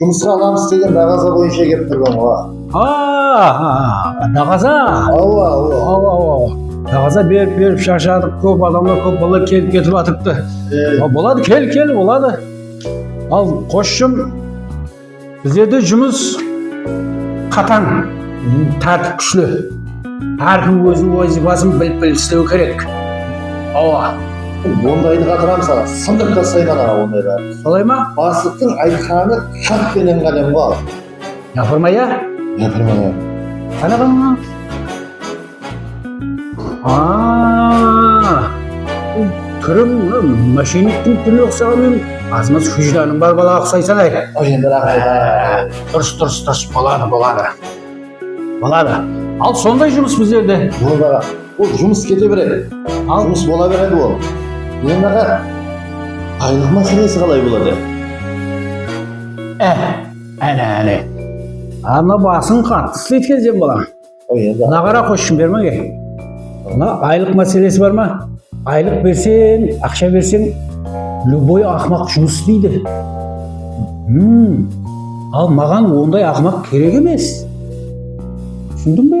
Jumısqa anam istegen daǵaza boyınsha kelip turgan ǵo. Haa, daǵaza? Awa, awa. Awa, awa. Daǵaza berip, berip sharshadıq, kóp adamlar, kóp balalar kelip ketip atırıptı. Boladı, kel, kel, boladı. Al, qosshım, bizlerde jumıs qatań, tártip kúshli. Hár kim óziniń wazıypasın bilip, bilip islewi kerek. Awa. Ondaydı qatıramız aǵa, sındırıp tastayman aǵa ondaydardı. Solay ma? Baslıqtıń aytqanı xat penen qalemǵo al. Yapırma ya? Yapırma ya. Qara bana. Aa! Túriń moshenniktiń túrine uqsaǵan menen azmaz hújdanıń bar balaǵa uqsaysań áy. Qoy endi raxmet áy. Durıs durıs durıs boladı boladı. Boladı. Al sonday jumıs bizlerde. Boldı aǵa. Ol jumıs kete beredi. Al jumıs bola beredi ol. Eń aǵa baylıq máselesi qalay boladı? Ehe, áne áne. Anna basıń qattı isleydi ekensen balam. Oy endi. Mına qara qoshshım bermege. Mına aylıq máselesi bar ma? Aylıq berseń, aqsha berseń lúboy aqmaq jumıs isleydi. H'm, al maǵan onday aqmaq kerek emes. Túsindiń be?